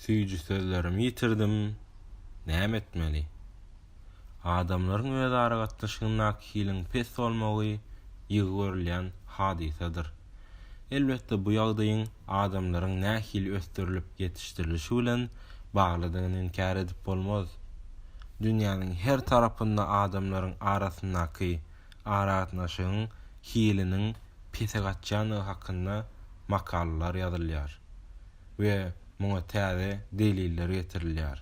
Süýji sözlerimi ýitirdim, näme etmeli? Adamlaryň özara gatnaşygyndaky hiliň pes bolmagy ýygy görülýän hadysadyr. Elbetde bu ýagdaýyň adamlaryň nähili ösdürilip ýetişdirilişi bilen baglydygyny inkär edip bolmaz. Dünýäniň her tarapynda adamlaryň arasyndaky aragatnaşygyň hiliniň pese gaçýandygy hakynda makalalar ýazylýar. we muňa täze deliller getirilýär.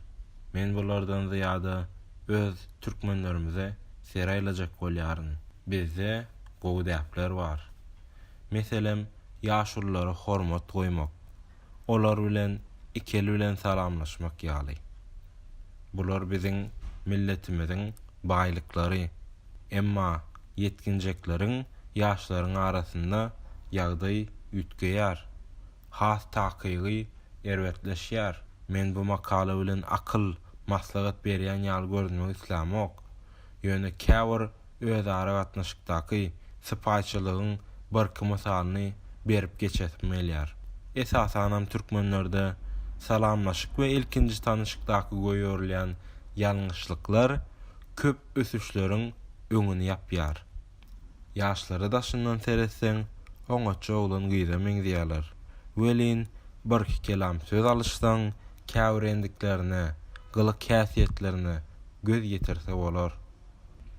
Men bulardan zyýada öz türkmenlerimize seraýlajak bolýaryn. Bizde gowy däpler bar. Meselem, ýaşululara hormat goýmak, olar bilen iki el bilen salamlaşmak ýaly. Bular biziň milletimiziň baýlyklary. Emma ýetginjekleriň, ýaşlaryň arasynda ýagdaý üýtgeýär. has takygy erbetleşýär. Men bu makala bilen akyl, maslahat berýän ýaly görünmek islämok. Ýöne käbir özara gatnaşykdaky sypaýyçylygyň birki mysalyny berip geçesim gelýär. Esasanam türkmenlerde salamlaşyk we ilkinji tanyşykdaky goýberilýän ýalňyşlyklar köp ösüşleriň öňüni ýapýar. Ýaşlary daşyndan seretseň, oňatja oglan-gyza meňzeýärler. Welin, birki kelam söz alyşsaň, käbir endiklerine, gylyk-häsiýetlerine göz ýetirse bolar.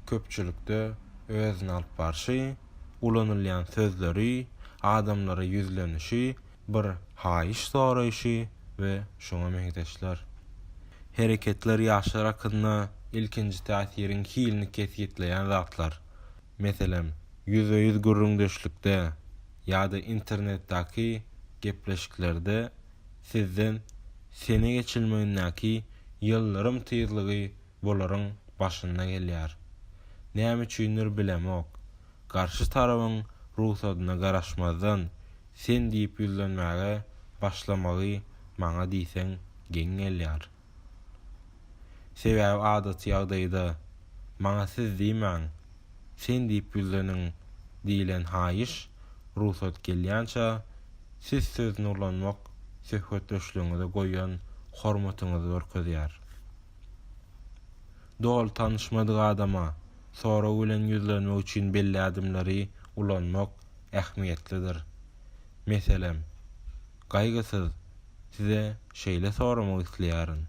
Köpçülikde özüni alyp barşy, ulanylýan sözleri, adamlara ýüzlenişi, bir haýyş soraýşy we şuňa meňzeşler. Hereketler ýaşlar hakynda ilkinji täsiriň hilini kesgitleýän zatlar, meselem, ýüzbe-ýüz gürrüňdeşlikde ýa-da internetdäki gepleşiklerde sizden sene geçilmegindäki ýyldyrym tyzlygy bularyň başynda gelýär. Näme üçindir bilemok, garşy tarabyň rugsadyna garaşmazdan Sen diýip ýüzlenmäge başlamagy maňa diýseň geň gelýär. Sebäbi adaty ýagdaýda maňa siz diýmäň, sen diýip ýüzleniň diýilen haýyş, rugsat gelýänçä siz söz nurlanmak söhbetdeşligiňize goýan hormatyňyzy görkezýär. Doly tanyşmadyk adama sorag bilen ýüzlenmek üçin belli ädimleri ulanmak ähmiýetlidir. Meselem, Gaýgysyz, size şeýle soramak isleýärin,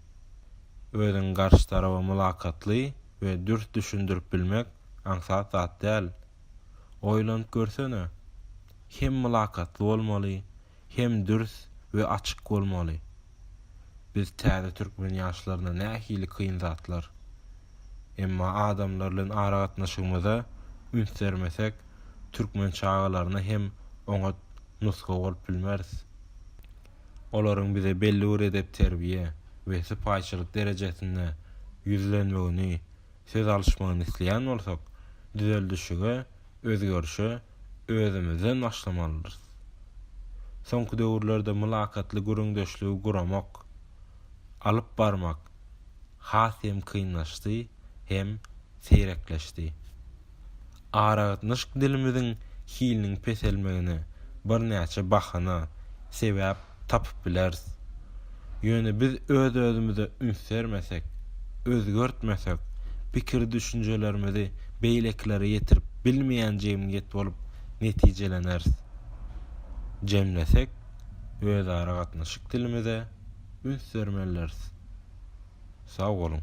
Özüňi garşy taraba mylakatly we dürs düşündirip bilmek aňsat zat däl. Oýlanyp görsene, hem mylakatly bolmaly, hem dürs we açyk bolmaly. Biz täze türkmen ýaşlaryna nähili kyn zatlar. Emma adamlar bilen aragatnaşygymyza üns bermesek türkmen çagalaryna hem oňat nusga bolup bilmeris. Olaryň bize belli bir edep-terbiýe we sypaýyçylyk derejesinde ýüzlenmegini, söz alyşmagyny isleýän bolsak, düzeldişige, özgerişe özümizden başlamalydyrys. Soňky döwürlerde mylakatly gürrüňdeşligi guramak, alyp barmak has hem kynlaşdy hem seýrekleşdi. Aragatnaşyk dilimiziň hiliniň peselmegine birnäçe bahana, sebäp tapyp bileris. Ýöne biz öz-özümize üns bermesek, özgertmesek, pikir-düşünjelerimizi beýlekilere ýetirip bilmeýän jemgyýet bolup netijeleneris. Jemlesek, özaragatnaşyk dilimize üns bermelidiris. Sag boluň!